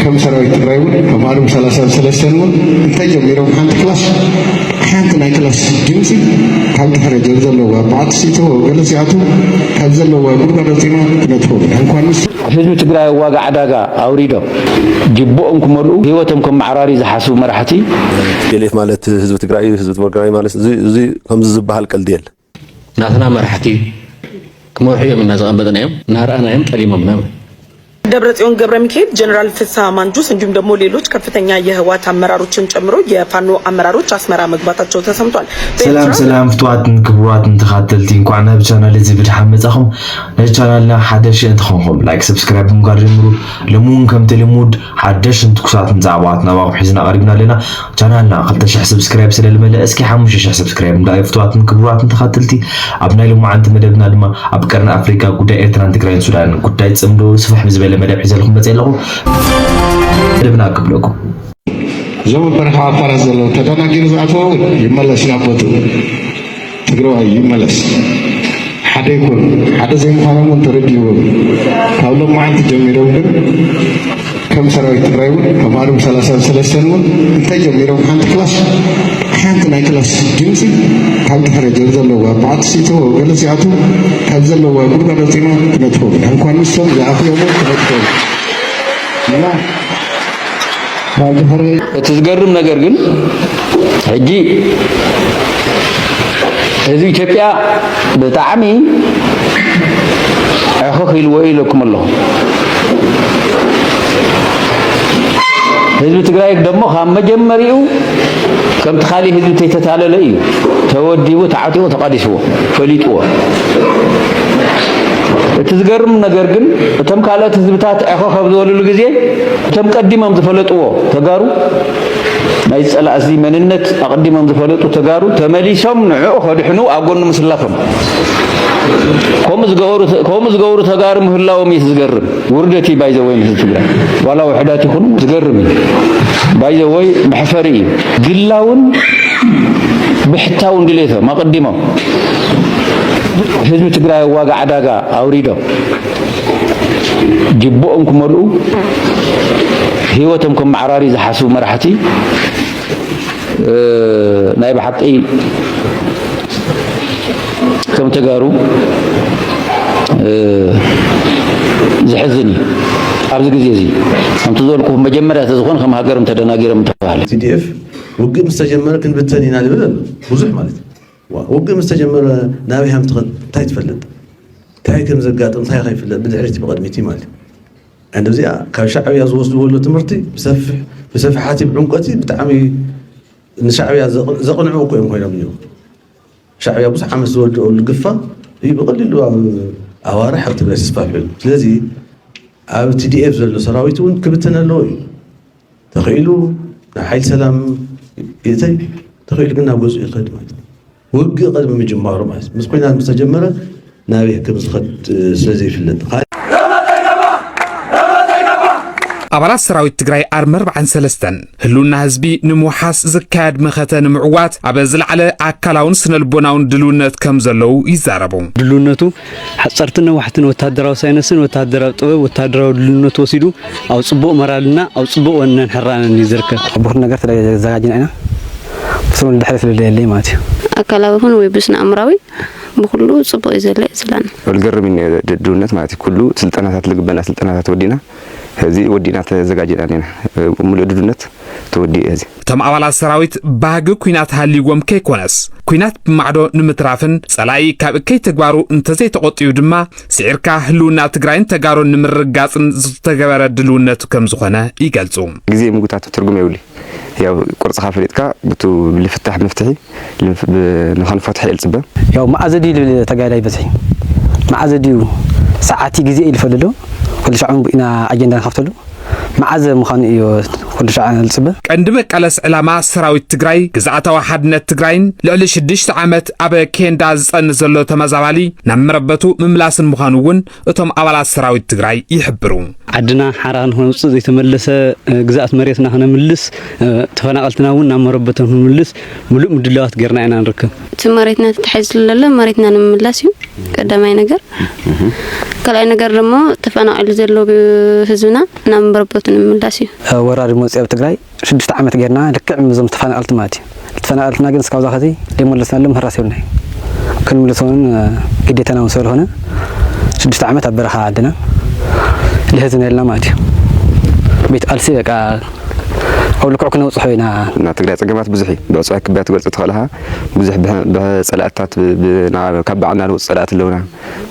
ከም ሰራዊት ትግራይ እውን ካብ ዓርቢ ሰላሳ ሰለስተን እውን እንታይ ጀሚሮም ሓንቲ ክላስ ሓንቲ ናይ ክላስ ድምፂ ካብ ድሕረ ጀብ ዘለዋ በዓቲ ሲቶ ገለ ሲኣቱ ካብ ዘለዋ ጉድጓድ ወፂና ክነጥፎ እንኳን ምስ ህዝቢ ትግራይ ዋጋ ዕዳጋ ኣውሪዶም ጅብኦም ክመልኡ ህይወቶም ከመዓራሪ ዝሓስቡ መራሕቲ ቴሌፍ ማለት ህዝቢ ትግራይ ህዝቢ ትግራይ ማለት እዚ ከምዚ ዝበሃል ቀልዲ የለ ናትና መራሕቲ ክመርሑ እዮም እና ዝቐበጥናዮም እናረኣናዮም ጠሊሞምና ማለት ደብረጽዮን ገብረ ሚካኤል፣ ጀነራል ፍስሐ ማንጁስ እንዲሁም ደግሞ ሌሎች ከፍተኛ የህወሓት አመራሮችን ጨምሮ የፋኖ አመራሮች አስመራ መግባታቸው ተሰምቷል። ሰላም ሰላም ፍትዋትን ክቡራትን ተኻተልቲ እንኳዕ ናብ ቻናል እዚ ብድሓን መጻኹም። ነዚ ቻናልና ሓደሽ እንተኾንኩም ላይክ፣ ሰብስክራይብ ብምግባር ጀምሩ። ሎሚ እውን ከምቲ ልሙድ ሓደሽትን ትኩሳትን ዛዕባታት ናባኹም ሒዝና ቀሪብና ኣለና። ቻናልና ክልተ ሽሕ ሰብስክራይብ ስለ ልመለእ እስኪ ሓሙሽተ ሽሕ ሰብስክራይብ ንደኣዩ ፍትዋትን ክቡራትን ተኸትልቲ። ኣብ ናይ ሎማዓንቲ መደብና ድማ ኣብ ቀርኒ ኣፍሪካ ጉዳይ ኤርትራን ትግራይን ሱዳንን ጉዳይ ጽምዶ ስፍሕ ብዝበለ መደብ ሒዘልኩም መጽየ ኣለኹ። መደብና ክብለኩም እዞም ኣብ በረኻ ዓፋራት ዘለዉ ተደናጊሩ ዝኣተወ እውን ይመለስ ናብ ቦትኡ። ትግራዋይ ይመለስ ሓደ ይኩን ሓደ ዘይምዃኖም እውን ተረዲእዎም ካብ ሎማዓንቲ ጀሚሮም ግን ከም ሰራዊት ትግራይ እውን ካብ ኣርም ሰላሳን ሰለስተን እውን እንታይ ጀሚሮም ሓንቲ ክላስ ሓንቲ ናይ ክላስ ድምፂ ካብ ድሕረ ጀብ ዘለዋ በዓቲ ሲቶ ገለ ሲኣቱ ካብ ዘለዋ ጉድጓድ ኣውፂና ክነጥፎም እንኳን ንሶም ዝኣኽዮሞ ክነጥፎም እና እቲ ዝገርም ነገር ግን ሕጂ ህዝቢ ኢትዮጵያ ብጣዕሚ ዕኽኽ ኢልዎ ኢለኩም ኣለኹ። ህዝቢ ትግራይ ደሞ ካብ መጀመሪኡ ከምቲ ካሊእ ህዝቢ ተይተታለለ እዩ ተወዲቡ ተዓጢቑ ተቓዲስዎ ፈሊጥዎ። እቲ ዝገርም ነገር ግን እቶም ካልኦት ህዝብታት ዕኽኽ ኣብ ዝበልሉ ግዜ እቶም ቀዲሞም ዝፈለጥዎ ተጋሩ ናይ ጸላእዚ መንነት ኣቐዲሞም ዝፈለጡ ተጋሩ ተመሊሶም ንዕኡ ከድሕኑ ኣብ ጎኑ ምስላፎም ከምኡ ዝገብሩ ተጋሩ ምህላዎም እዩ ዝገርም። ውርደት እዩ ባይዘወይ ንህዝቢ ትግራይ ዋላ ውሕዳት ይኹኑ ዝገርም እዩ ባይዘወይ መሕፈሪ እዩ። ግላውን ብሕታውን ድሌቶም ኣቐዲሞም ህዝቢ ትግራይ ዋጋ ዕዳጋ ኣውሪዶም ጅብኦም ክመልኡ ህይወቶም ከመዓራርዩ ዝሓስቡ መራሕቲ ናይ ብሓቂ ከም ተጋሩ ዝሕዝን እዩ ኣብዚ ግዜ እዚ ከምቲ ዝበልኩ መጀመርያ ተዝኾን ከም ሃገርም ተደናጊሮም ተባሃለ ቲዲኤፍ ውግእ ምስ ተጀመረ ክንብተን ኢና ንብል ኣሎ ብዙሕ ማለት እዩ ውግእ ምስ ተጀመረ ናበይ ሃም ትኸድ እንታይ ትፈልጥ እንታይ ከም ዘጋጥም እንታይ ከይፍለጥ ብድሕሪቲ ብቐድሚቲ ማለት እዩ ዕንዲ እዚኣ ካብ ሻዕብያ ዝወስድዎ ኣሎ ትምህርቲ ብሰፊሕ ብሰፍሓቲ ብዕምቆቲ ብጣዕሚ ንሻዕብያ ዘቕንዑ እኮ እዮም ኮይኖም እዮም ሻዕብያ ብዙሕ ዓመት ዝወደኦ ልግፋ እዩ ብቐሊሉ ኣብ ኣዋርሕ ኣብ ትግራይ ተስፋፍዑ ስለዚ ኣብ ቲዲኤፍ ዘሎ ሰራዊት እውን ክብተን ኣለዎ እዩ ተኺኢሉ ናብ ሓይሊ ሰላም ይእተይ ተኺኢሉ ግን ናብ ገዝኡ ይኸድ ማለት እዩ። ውግእ ቅድሚ ምጅማሩ ማለት ምስ ኩናት ምስ ተጀመረ ናበይ ከም ዝኸድ ስለ ዘይፍለጥ ኣባላት ሰራዊት ትግራይ ኣርሚ 43 ህልውና ህዝቢ ንምውሓስ ዝካየድ መኸተ ንምዕዋት ኣብ ዝለዓለ ኣካላውን ስነልቦናውን ድልውነት ከም ዘለዉ ይዛረቡ። ድልውነቱ ሓጸርትን ነዋሕትን ወተሃደራዊ ሳይነስን ወተሃደራዊ ጥበብ ወተሃደራዊ ድልውነት ወሲዱ ኣብ ጽቡቕ መራልና ኣብ ጽቡቕ ወነን ሕራነን እዩ ዝርከብ። ብኹሉ ነገር ተዘጋጅና ኢና ብስሩ ንድሕሪ ስለዘየለይ ማለት እዩ። ኣካላዊ ይኹን ወይ ብስነ ኣእምራዊ ብኹሉ ጽቡቕ እዩ ዘሎ እዩ ዝብላና። ልገርም እዩ ድልውነት ማለት እዩ ኩሉ ስልጠናታት ልግበና ስልጠናታት ወዲና ሀዚ ወዲእና ተዘጋጅና እኔና ብሙሉእ ድዱነት ተወዲኡ ሀዚ። እቶም ኣባላት ሰራዊት ባህጊ ኩናት ሃልይዎም ከይኮነስ ኩናት ብማዕዶ ንምትራፍን ፀላኢ ካብ እከይ ተግባሩ እንተዘይተቆጢቡ ድማ ስዒርካ ህልውና ትግራይን ተጋሩን ንምርግጋፅን ዝተገበረ ድልውነቱ ከምዝኾነ ይገልፁ። ግዜ ምጉታት ትርጉም የብሉይ። ያው ቁርጽኻ ፈሊጥካ ብቱ ልፍታሕ መፍትሒ ንኸንፎትሒ እየ ልጽበ። ያው መኣዘ ድዩ ልብል ተጋዳይ በዝሒ መኣዘ ድዩ ሰዓቲ ግዜ እዩ ልፈሊ ኣሎ ኩሉ ሻዕ ውን ኢና ኣጀንዳ ንኸፍተሉ መዓዘ ምዃኑ እዩ ኩሉ ሻዕ ልጽበ። ቀንዲ መቃለስ ዕላማ ሰራዊት ትግራይ ግዝኣታዊ ሓድነት ትግራይን ልዕሊ ሽዱሽተ ዓመት ኣብ ኬንዳ ዝጸንት ዘሎ ተመዛባሊ ናብ መረበቱ ምምላስን ምዃኑ እውን እቶም ኣባላት ሰራዊት ትግራይ ይሕብሩ። ዓድና ሓራ ንኸውፅእ ዘይተመለሰ ግዝኣት መሬትና ክነምልስ ተፈናቐልትና እውን ናብ መረበቶም ክንምልስ ምሉእ ምድላዋት ጌርና ኢና ንርከብ። እቲ መሬትና ተታሒዙ ዘሎ መሬትና ንምምላስ እዩ ቀዳማይ ነገር። ካልኣይ ነገር ደሞ ተፈናቒሉ ዘሎ ህዝብና ናብ መረበቱ ንምምላስ እዩ። ወራሪ መፂኡ ኣብ ትግራይ ሽዱሽተ ዓመት ጌርና ልክዕ ምዞም ተፈናቀልቲ ማለት እዩ ተፈናቀልትና ግን እስካብ ዛኸዚ ደይመለስናሎም ህራስ የብልናይ ክንምልሶ ውን ግዴታና ውን ስለልኾነ ሽዱሽተ ዓመት ኣብ በረኻ ዓድና ልህዝ ነልና ማለት እዩ ቤት ቃልሲ በቃ ኣብ ልክዑ ክነብፅሖ ኢና ናይ ትግራይ ፀገማት ብዙሕ እዩ ብዕፅዋይ ክብያ ትገልፆ ተኸለኻ ብዙሕ ብፀላእትታት ካብ ባዕልና ንወፅ ፀላእቲ ኣለውና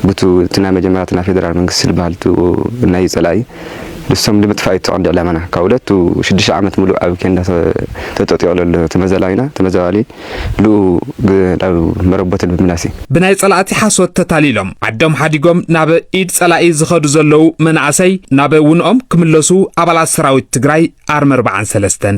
ብቱ እቲ ናይ መጀመርያ ናይ ፌደራል መንግስቲ ዝበሃል ናይ ፀላኢ ንሶም ንምጥፋእ እዩ እቲ ቀንዲ ዕላማና። ካብ ሁለቱ ሽዱሽተ ዓመት ሙሉእ ኣብ ኬንዳ ተጠጢቑ ለሎ ተመዛላዊና፣ ተመዛባሊ፣ ልኡ ናብ መረቦተን ብምምላስ እዩ። ብናይ ጸላእቲ ሓሶት ተታሊሎም ዓዶም ሓዲጎም ናብ ኢድ ጸላኢ ዝኸዱ ዘለዉ መናእሰይ ናብ ውንኦም ክምለሱ ኣባላት ሰራዊት ትግራይ ኣርሚ ኣርብዓን ሰለስተን።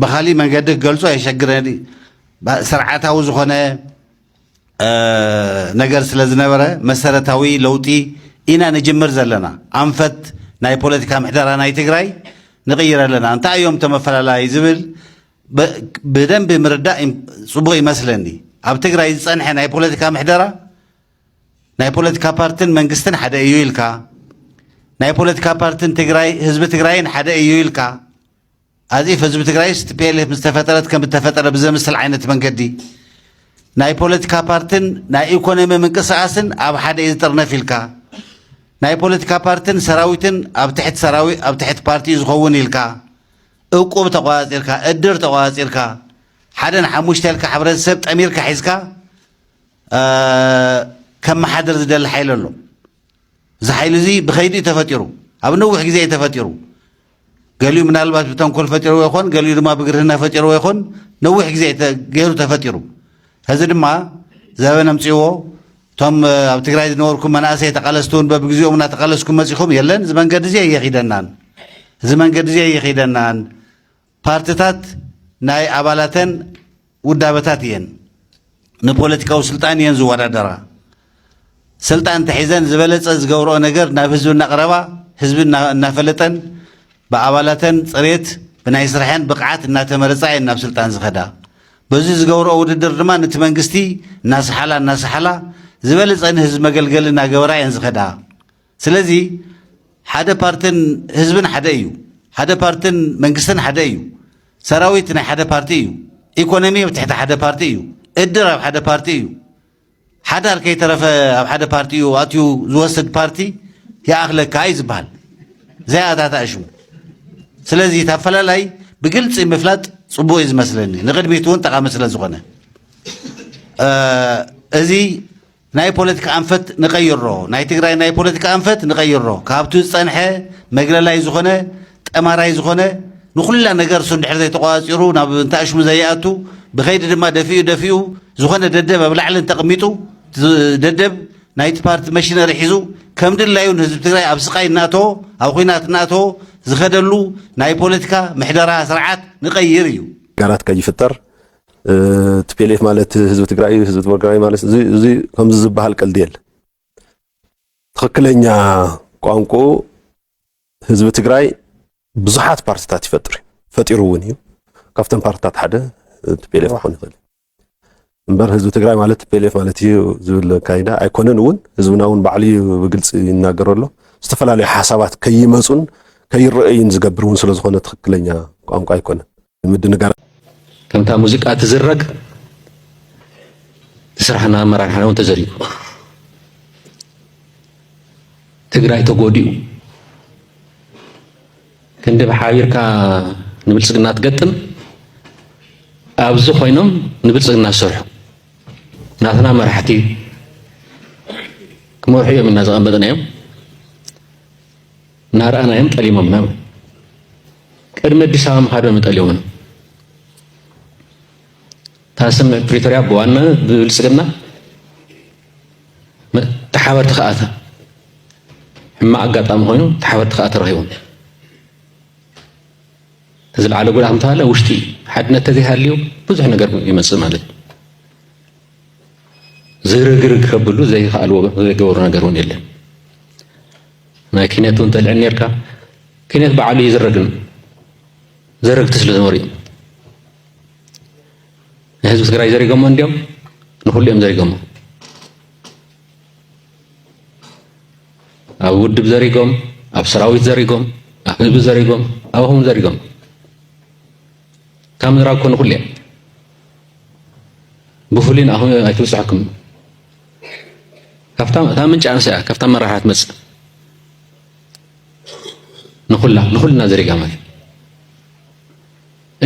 ብካሊእ መንገዲ ክገልፆ የሸግረኒ ስርዓታዊ ዝኾነ ነገር ስለ ዝነበረ መሰረታዊ ለውጢ ኢና ንጅምር ዘለና ኣንፈት ናይ ፖለቲካ ምሕደራ ናይ ትግራይ ንቕይር ኣለና እንታይ እዮም ተመፈላለይ ዝብል ብደንቢ ምርዳእ ፅቡቕ ይመስለኒ ኣብ ትግራይ ዝፀንሐ ናይ ፖለቲካ ምሕደራ ናይ ፖለቲካ ፓርትን መንግስትን ሓደ እዩ ኢልካ፣ ናይ ፖለቲካ ፓርትን ትግራይ ህዝቢ ትግራይን ሓደ እዩ ኢልካ፣ ኣዚፍ ህዝቢ ትግራይስ ቲፒኤልኤፍ ምስ ተፈጠረት ከም እተፈጠረ ብዘምስል ዓይነት መንገዲ ናይ ፖለቲካ ፓርትን ናይ ኢኮኖሚ ምንቅስቓስን ኣብ ሓደ እዩ ዝጥርነፍ ኢልካ፣ ናይ ፖለቲካ ፓርትን ሰራዊትን ኣብ ትሕቲ ሰራዊ ኣብ ትሕቲ ፓርቲ እዩ ዝኸውን ኢልካ፣ እቁብ ተቆፃፂርካ፣ እድር ተቆፃፂርካ፣ ሓደን ሓሙሽተ ኢልካ ሕብረተሰብ ጠሚርካ ሒዝካ፣ ከመሓድር ዝደሊ ሓይሊ ኣሎ። እዚ ሓይሊ እዚ ብኸይዲ እዩ ተፈጢሩ፣ ኣብ ነዊሕ ግዜ እዩ ተፈጢሩ። ገሊኡ ምናልባት ብተንኮል ፈጢርዎ ይኾን፣ ገሊኡ ድማ ብግርህና ፈጢርዎ ይኾን፣ ነዊሕ ግዜ ገይሩ ተፈጢሩ። ሕዚ ድማ ዘበን ኣምፅዎ እቶም ኣብ ትግራይ ዝነበርኩም መናእሰይ ተቃለስቲ እውን በብግዚኦም እናተቃለስኩም መፂኹም የለን እዚ መንገዲ እዚ ኣየኺደናን እዚ መንገዲ እዚ ኣየኺደናን ፓርትታት ናይ ኣባላተን ውዳበታት እየን ንፖለቲካዊ ስልጣን እየን ዝወዳደራ። ስልጣን እንተሒዘን ዝበለፀ ዝገብረኦ ነገር ናብ ህዝቢ እናቕረባ ህዝቢ እናፈለጠን ብኣባላተን ፅሬት ብናይ ስርሐን ብቕዓት እናተመረፃ እየን ናብ ስልጣን ዝኸዳ። በዚ ዝገብረኦ ውድድር ድማ ነቲ መንግስቲ እናሰሓላ እናሰሓላ ዝበለፀ ንህዝቢ መገልገሊ እናገበራ እየን ዝኸዳ። ስለዚ ሓደ ፓርትን ህዝብን ሓደ እዩ። ሓደ ፓርትን መንግስትን ሓደ እዩ። ሰራዊት ናይ ሓደ ፓርቲ እዩ። ኢኮኖሚ ኣብ ትሕቲ ሓደ ፓርቲ እዩ። እድር ኣብ ሓደ ፓርቲ እዩ። ሓዳር ከይተረፈ ኣብ ሓደ ፓርቲ እዩ ኣትዩ ዝወስድ ፓርቲ ይኣኽለካ እዩ ዝበሃል ዘይኣታታእሹ። ስለዚ እቲ ኣፈላላይ ብግልፂ ምፍላጥ ፅቡቅ እዩ ዝመስለኒ ንቅድሚት እውን ጠቃሚ ስለ ዝኾነ እዚ ናይ ፖለቲካ ኣንፈት ንቐይሮ ናይ ትግራይ ናይ ፖለቲካ ኣንፈት ንቐይሮ ካብቲ ዝጸንሐ መግለላይ ዝኾነ ጠማራይ ዝኾነ ንኹላ ነገር እሱ እንድሕር ዘይተቋጺሩ ናብ እንታኣሽሙ ዘይኣቱ ብኸይዲ ድማ ደፊኡ ደፊኡ ዝኾነ ደደብ ኣብ ላዕሊ እንተቕሚጡ ደደብ ናይቲ ፓርቲ መሽነሪ ሒዙ ከም ድላዩ ንህዝቢ ትግራይ ኣብ ስቃይ እናእተዎ ኣብ ኩናት እናእተዎ ዝኸደሉ ናይ ፖለቲካ ምሕደራ ስርዓት ንቐይር እዩ። ነገራት ከይፍጠር ቲፒኤልኤፍ ማለት ህዝቢ ትግራይ እዩ፣ ህዝቢ ትግራይ ማለት እዚ እዚ ከምዚ ዝበሃል ቀልዲ የለ። ትኽክለኛ ቋንቁኡ ህዝቢ ትግራይ ብዙሓት ፓርቲታት ይፈጥር እዩ ፈጢሩ እውን እዩ። ካብተን ፓርቲታት ሓደ ቲፒኤልኤፍ ክኾን ይኽእል እምበር ህዝቢ ትግራይ ማለት ቲፒኤልኤፍ ማለት እዩ ዝብል ካይዳ ኣይኮነን። እውን ህዝብና እውን ባዕሉ እዩ ብግልፂ ይናገሮ ኣሎ። ዝተፈላለዩ ሓሳባት ከይመፁን ከይረአዩን ዝገብር እውን ስለዝኾነ ትኽክለኛ ቋንቋ ኣይኮነን። ምድንጋር ከምታ ሙዚቃ ትዝረግ ስራሕና ኣመራርሓና እውን ተዘሪጉ ትግራይ ተጎዲኡ ክንዲ ብሓቢርካ ንብልፅግና ትገጥም ኣብዚ ኮይኖም ንብልፅግና ዝሰርሑ ናትና መራሕቲ ክመርሑ እዮም እና ዘቐመጥናዮም እናረኣናዮም ጠሊሞምና ውን ቅድሚ ኣዲስ ኣበባ ምኻዶም ዩ ጠሊሞምና እታ ስምምዕ ፕሪቶርያ ብዋናነት ብብልፅግና ተሓበርቲ ከዓ ሕማቅ ኣጋጣሚ ኮይኑ ተሓበርቲ ከዓ ተረኺቦም ዝለዓለ ጉድኣት እንተሃለ ውሽጢ ሓድነት ተዘይሃልዩ ብዙሕ ነገር ይመፅእ ማለት እዩ ዝርግርግ ከብሉ ዘይከኣልዎ ዘይገበሩ ነገር እውን የለን ናይ ኪነት ውን ተልዕል ኔርካ ኪነት በዓሉ እዩ ዝረግም ዘረግቲ ስለ ዝነበሩ እዩ ንህዝቢ ትግራይ ዘሪጎሞ እንዲኦም ንኩሉ እዮም ዘሪጎሞ ኣብ ውድብ ዘሪጎም ኣብ ሰራዊት ዘሪጎም ኣብ ህዝቢ ዘሪጎም ኣብ ኣኹም ዘሪጎም ካብ ምዝራብ ኮ ንኩሉ እዮም ብፍሉይ ንኣኹም ኣይትብፅሐኩም ካብታ እታ ምንጭ ኣንስያ ካብታ መራሕያ ትመጽእ ንኹላ ንኹልና ዘሪጋ ማለት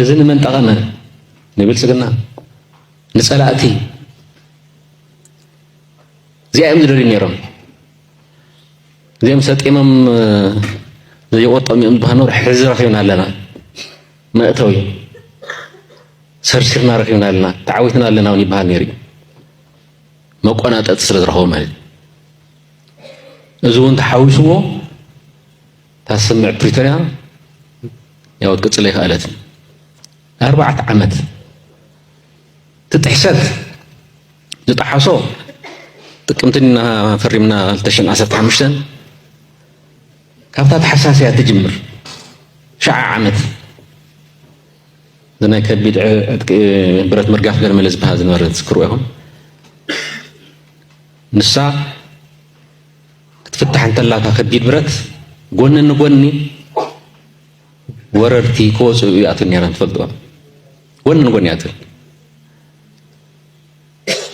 እዚ ንመን ጠቐመ ንብልጽግና ንጸላእቲ እዚኣ እዮም ዝደልዩ ነይሮም እዚኦም ሰጢሞም ዘይቆጠሙ እዮም ዝበሃል ኖር ሕዚ ረኺብና ኣለና መእተዊ ሰርሲርና ረኺብና ኣለና ተዓዊትና ኣለና እውን ይበሃል ነይሩ እዩ መቆናጠጢ ስለ ዝረኸቦ ማለት እዩ። እዚ እውን ተሓዊስዎ እታ ስምምዕ ፕሪቶርያ ያው ክትቅፅል ኣይከኣለትን። ኣርባዕተ ዓመት እቲ ጥሕሰት ዝጠሓሶ ጥቅምቲ እና ፈሪምና 2015 ካብታ ተሓሳስያ ትጅምር ሸዓ ዓመት ብናይ ከቢድ ዕጥቂ ብረት ምርጋፍ ገርመለ ዝበሃል ዝነበረ ትዝክርዎ ኢኹም ንሳ ክትፍታሕ እንተላታ ከቢድ ብረት ጎኒ ንጎኒ ወረርቲ ክወፅኡ እያትን ነይረን ትፈልጥዎ ጎኒ ንጎኒ እያትን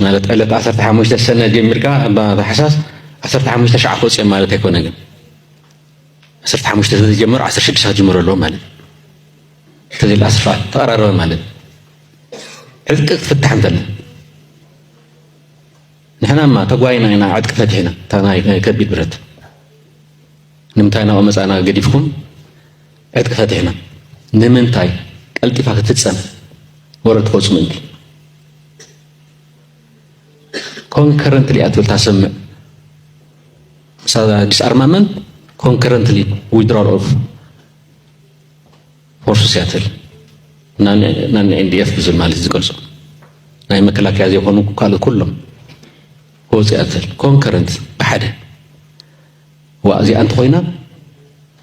ማለት ዕለት 15 ሰነ ጀሚርካ እባ ታሕሳስ 15 ሸዓ ክወፅኦም ማለት ኣይኮነ ግን 15 ስለዝጀመሩ 16 ክጅምሩ ኣለዎ ማለት እዩ ትብል ኣስፋ ተቐራረበ ማለት ዕጥቂ ክትፍታሕ እንተለ ንሕናማ ተጓይና ኢና ዕጥቂ ፈቲሕና እታ ናይ ከቢድ ብረት ንምንታይ ናብኡ መፃና ገዲፍኩም ዕጥቂ ፈቲሕና ንምንታይ ቀልጢፋ ክትፍፀም ወረድ ትቆፁ ምእንቲ ኮንከረንትሊ እያ ትብል ታሰምዕ ዲስኣርማመንት ኮንከረንትሊ ዊድራል ኦፍ ፎርስ ሲያትል ናን ኤንዲኤፍ ብዝብል ማለት ዝገልጾ ናይ መከላከያ ዘይኮኑ ካልኦት ኩሎም ወፅያትል ኮንከረንት ብሓደ ዋ እዚኣ እንተኮይና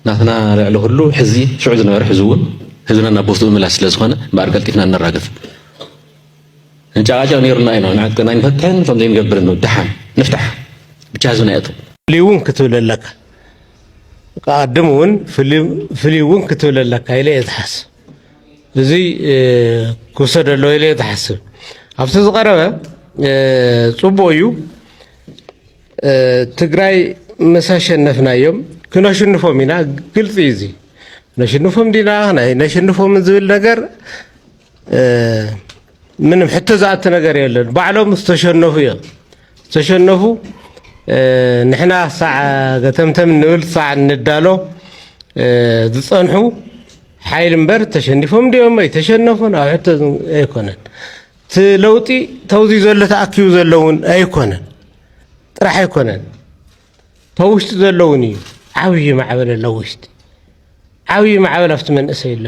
ናትና ልዕሊ ኩሉ ሕዚ ሽዑ ዝነበረ ሕዚ እውን ህዝብና ናብ ቦትኡ ምምላስ ስለ ዝኾነ እምበኣር ቀልጢፍና እነራግፍ እንጨቃጨቅ ነይሩና ኢና ንዓት ናይ ንፈትሕን ከም ዘይንገብርን ደሓን ንፍታሕ ብቻ ህዝብና የእቱ እውን ክትብል ኣለካ ክኣድም እውን ፍልይ እውን ክትብል ኣለካ ኢለ እየ ዝሓስብ እዚ ክውሰድ ኣለዎ ኢለ እየ ዝሓስብ ኣብቲ ዝቐረበ ፅቡቅ እዩ ትግራይ ምስ ኣሸነፍናዮም ክነሽንፎም ኢና ግልፂ እዩ እዚ ነሽንፎም ዲና ናይ ነሽንፎም ዝብል ነገር ምንም ሕቶ ዝኣቲ ነገር የለን። ባዕሎም ዝተሸነፉ እዮም ዝተሸነፉ ንሕና ሳዕ ገተምተም ንብል ሳዕ ንዳሎ ዝፀንሑ ሓይል እምበር ተሸኒፎም ድኦም ኣይተሸነፉን ኣብ ሕቶ ኣይኮነን እቲ ለውጢ ተውዚ ዘሎ ተኣኪቡ ዘለውን ኣይኮነን ጥራሕ ኣይኮነን ተውሽጢ ዘሎ እውን እዩ ዓብዪ ማዕበል ኣሎ ውሽጢ ዓብዪ ማዕበል ኣብቲ መንእሰይ ኣሎ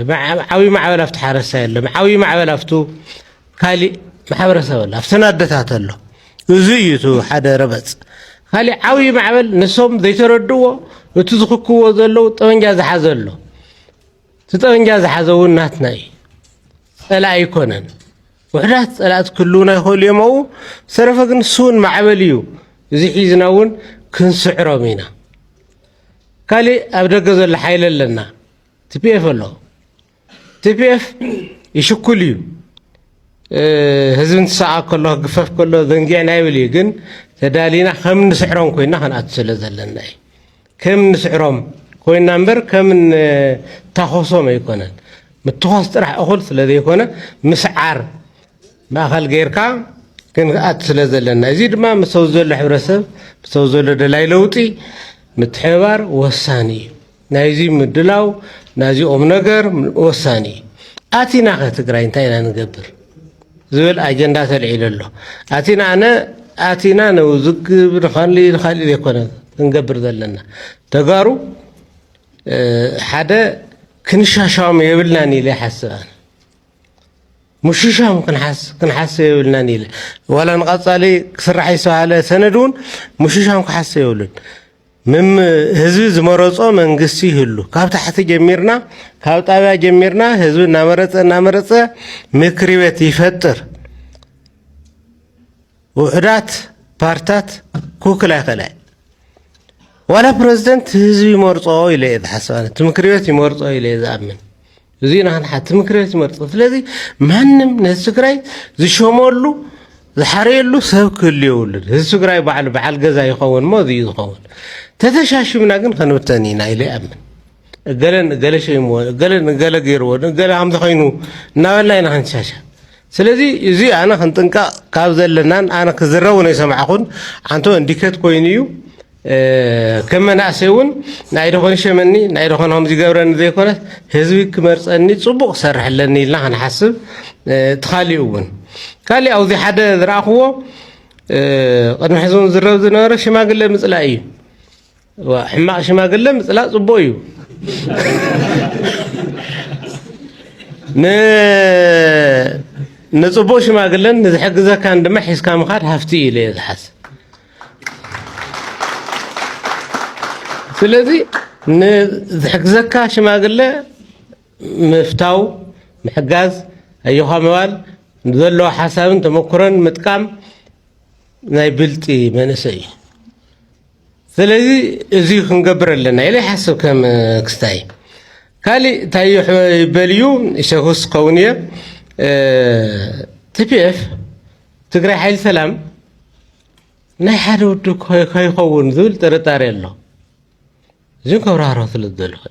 ዓብዪ ማዕበል ኣብቲ ሓረስታይ ኣሎ ዓብዪ ማዕበል ኣብቱ ካሊእ ማሕበረሰብ ኣሎ ኣብተን ኣደታት ኣሎ እዚ እዩ እቲ ሓደ ረበፅ ካሊእ ዓብዪ ማዕበል ንሶም ዘይተረድዎ እቲ ዝኽክዎ ዘለዉ ጠበንጃ ዝሓዘ ኣሎ እቲ ጠበንጃ ዝሓዘ እውን ናትና እዩ፣ ፀላኢ ኣይኮነን። ውሕዳት ፀላእቲ ክህልውና ይኽእሉ እዮም ኣብኡ። ዝተረፈ ግን ንሱ እውን ማዕበል እዩ። እዚ ሒዝና እውን ክንስዕሮም ኢና። ካሊእ ኣብ ደገ ዘሎ ሓይሊ ኣለና፣ ቲፒኤፍ ኣሎ። ቲፒኤፍ ይሽኩል እዩ፣ ህዝቢ እንትሰዓ ከሎ ክግፈፍ ከሎ ዘንጊዕና ይብል እዩ። ግን ተዳሊና ከም እንስዕሮም ኮይና ክንኣቱ ስለ ዘለና እዩ። ከም ንስዕሮም ኮይና እምበር ከም ንታኾሶም ኣይኮነን። ምትዃስ ጥራሕ እኹል ስለ ዘይኮነ ምስዓር ማእኸል ገይርካ ክንኣት ስለ ዘለና እዚ ድማ ምስ ኣብዚ ዘሎ ሕብረተሰብ ምስ ኣብዚ ዘሎ ደላይ ለውጢ ምትሕብባር ወሳኒ እዩ። ናይዚ ምድላው ናዚ ቁም ነገር ወሳኒ እዩ። ኣቲናኸ ትግራይ እንታይ ኢና ንገብር? ዝብል ኣጀንዳ ተልዒሉ ኣሎ። ኣቲና ኣነ ኣቲና ነውዝግብ ንካልእ ንካልእ ዘይኮነ ክንገብር ዘለና ተጋሩ ሓደ ክንሻሻም የብልናን ኢለ ይሓስብ ኣነ ሙሽሻም ክንሓስብ የብልናን ኢለ ዋላ ንቐፃሊ ክስራሕ ዝተባሃለ ሰነድ እውን ሙሽሻም ክሓስብ የብሉን ምም ህዝቢ ዝመረፆ መንግስቲ ይህሉ ካብ ታሕቲ ጀሚርና ካብ ጣብያ ጀሚርና ህዝቢ እናመረፀ እናመረፀ ምክሪ ቤት ይፈጥር ውሕዳት ፓርታት ክውክል ኣይኽእል ኣይ ዋላ ፕረዚደንት ህዝቢ ይመርፆ ኢለ እየ ዝሓስብ ኣነ እቲ ምክሪ ቤት ይመርፆ ኢለ እየ ዝኣምን እዚ ናህና ሓቲ ምክረ ዝመርፅ ስለዚ ማንም ነዚ ትግራይ ዝሸመሉ ዝሓረየሉ ሰብ ክህሉ የብሉን እዚ ትግራይ ባዕሉ በዓል ገዛ ይኸውን እሞ እዚዩ ዝኸውን ተተሻሽምና ግን ከንብተን ኢና ኢለ ይኣምን እገለ ንገለ ሸይምዎ እገለ ንገለ ገይርዎ እገለ ከምዚ ኮይኑ እናበልና ኢና ክንሻሻ ስለዚ እዚ ኣነ ክንጥንቀቕ ካብ ዘለናን ኣነ ክዝረቡ ናይ ሰማዕኹን ኣንተ እንዲከት ኮይኑ እዩ ከም መናእሰይ እውን ናይ ዶ ሸመኒ ናይ ዶ ከምዚ ይገብረኒ ዘይኮነስ ህዝቢ ክመርፀኒ ፅቡቕ ክሰርሕ ኣለኒ ኢልና ክንሓስብ እቲ ካሊኡ እውን ካሊእ ኣብዚ ሓደ ዝረኣኽዎ ቅድሚ ሕዚ እውን ዝረብ ዝነበረ ሽማግለ ምፅላእ እዩ ሕማቕ ሽማግለ ምፅላእ ፅቡቕ እዩ ንፅቡቕ ሽማግለን ንዝሕግዘካን ድማ ሒዝካ ምኻድ ሃፍቲ እዩ ኢለ እየ ዝሓስብ ስለዚ ንዝሕግዘካ ሽማግለ ምፍታው ምሕጋዝ ኣዮኻ ምባል ዘለዎ ሓሳብን ተመክሮን ምጥቃም ናይ ብልጢ መንእሰይ እዩ ስለዚ እዚ ክንገብር ኣለና ኢለ ይሓስብ ከም ክስታይ ካሊእ እንታይ ይበል እዩ ሸክስ ክኸውን እየ ቲፒኤፍ ትግራይ ሓይሊ ሰላም ናይ ሓደ ውድብ ከይኸውን ዝብል ጥርጣሬ ኣሎ እዚን ከብራህሮ ስለ ዝደለኹ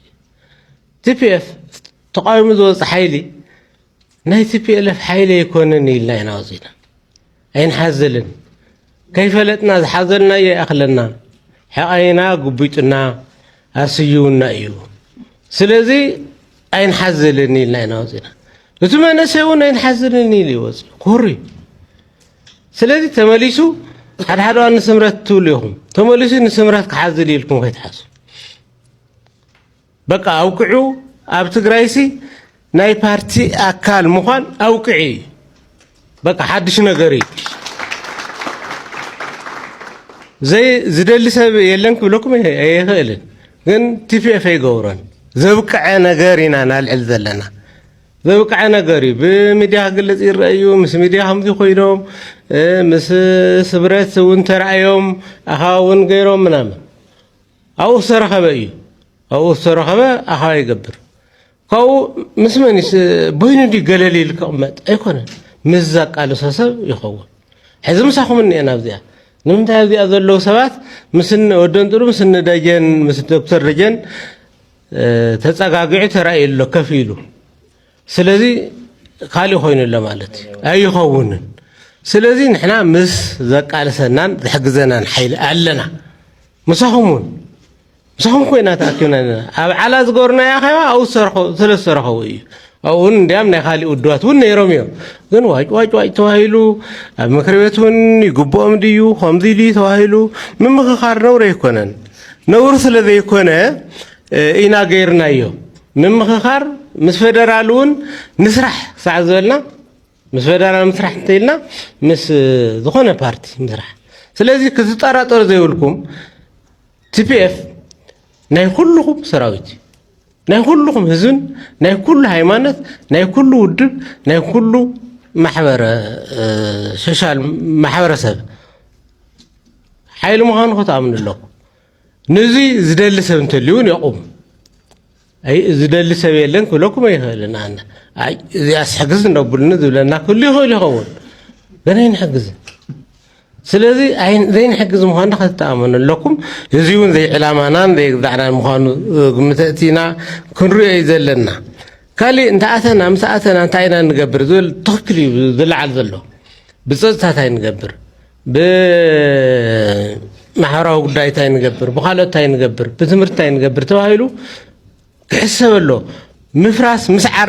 ቲፒኤፍ ተቃዊሙ ዝወፅ ሓይሊ ናይ ቲፒኤልኤፍ ሓይሊ ኣይኮነን ኢልና ኢና ወፂና ኣይንሓዝልን ከይፈለጥና ዝሓዘልናዮ ይኣኽለና ሕቓይና ጉቢጡና ኣስዩውና እዩ ስለዚ ኣይንሓዝልን ኢልና ኢና ወፂና እቲ መንእሰይ እውን ኣይንሓዝልን ኢሉ እዩ ወፂኡ ኮሩ እዩ ስለዚ ተመሊሱ ሓድሓደ እዋን ንስምረት ትብሉ ኢኹም ተመሊሱ ንስምረት ክሓዝል ኢልኩም ከይትሓስቡ በቃ ኣውቅዑ ኣብ ትግራይሲ ናይ ፓርቲ ኣካል ምዃን ኣውቅዒ እዩ በቃ ሓድሽ ነገር እዩ ዘይ ዝደሊ ሰብ የለን ክብለኩም ኣይኽእልን፣ ግን ቲፒኤፍ ኣይገብሮን። ዘብቅዐ ነገር ኢና ናልዕል ዘለና ዘብቅዐ ነገር እዩ። ብሚድያ ክግለፅ ይረአዩ ምስ ሚድያ ከምዚ ኮይኖም ምስ ስብረት እውን ተረኣዮም ኣኸባ እውን ገይሮም ምናምን ኣብኡ ዝተረኸበ እዩ ኣብኡ ዝተረኸበ ኣኸባ ይገብር ካብኡ ምስ መን እዩ በይኑ ድዩ ገለል ኢሉ ክቕመጥ ኣይኮነን ምስ ዘቃልሶ ሰብ ይኸውን ሕዚ ምሳኹም እኒኤና ኣብዚኣ ንምንታይ ኣብዚኣ ዘለዉ ሰባት ምስ ወደን ጥሩ ምስ ደጀን ምስ ዶክተር ደጀን ተጸጋጊዑ ተራእዩ ኣሎ ከፍ ኢሉ ስለዚ ካልእ ኮይኑ ኣሎ ማለት እዩ ኣይኸውንን ስለዚ ንሕና ምስ ዘቃልሰናን ዝሕግዘናን ሓይሊ ኣለና ምሳኹም እውን ምስኹም ኮይና ተኣኪብና ኣለና ኣብ ዓላ ዝገበርናዮ ኣኼባ ኣብኡ ስለ ዝተረኸቡ እዩ ኣብኡ እውን እንዲያም ናይ ካሊእ ውድባት እውን ነይሮም እዮም ግን ዋጭ ዋጭ ዋጭ ተባሂሉ ኣብ ምክሪ ቤት እውን ይግብኦም ድዩ ከምዚ ድዩ ተባሂሉ ምምኽኻር ነውሪ ኣይኮነን ነውሪ ስለ ዘይኮነ ኢና ገይርናዮ ምምኽኻር ምስ ፌደራል እውን ንስራሕ ክሳዕ ዝበልና ምስ ፈደራል ምስራሕ እንተኢልና ምስ ዝኾነ ፓርቲ ምስራሕ ስለዚ ክትጠራጠሩ ዘይብልኩም ቲፒኤፍ ናይ ኩልኹም ሰራዊት እዩ ናይ ኩልኹም ህዝብን ናይ ኩሉ ሃይማኖት ናይ ኩሉ ውድብ ናይ ኩሉ ማሕበረ ሶሻል ማሕበረሰብ ሓይሊ ምዃኑ ክትኣምኑ ኣለኩም ንዚ ዝደሊ ሰብ እንተልዩ እውን የቑም ዝደሊ ሰብ የለን ክብለኩም ኣይኽእልን ኣነ እዚኣስ ሕግዝ እነብሉኒ ዝብለና ክህሉ ይኽእል ይኸውን ግን ኣይንሕግዝን ስለዚ ዘይንሕግዝ ምዃኑ ከተተኣመኑ ኣለኩም እዚ እውን ዘይዕላማናን ዘይግዛዕናን ምዃኑ ግምተእቲ ኢና ክንሪኦ እዩ ዘለና ካሊእ እንተኣተና ምስ ኣተና እንታይ ኢና ንገብር ዝብል ትኽክል እዩ ዝለዓል ዘሎ ብፀፅታ እንታይ ንገብር ብማሕበራዊ ጉዳይ እንታይ ንገብር፣ ብካልኦት እንታይ ንገብር፣ ብትምህርቲ እንታይ ንገብር ተባሂሉ ክሕሰበሎ ምፍራስ ምስዓር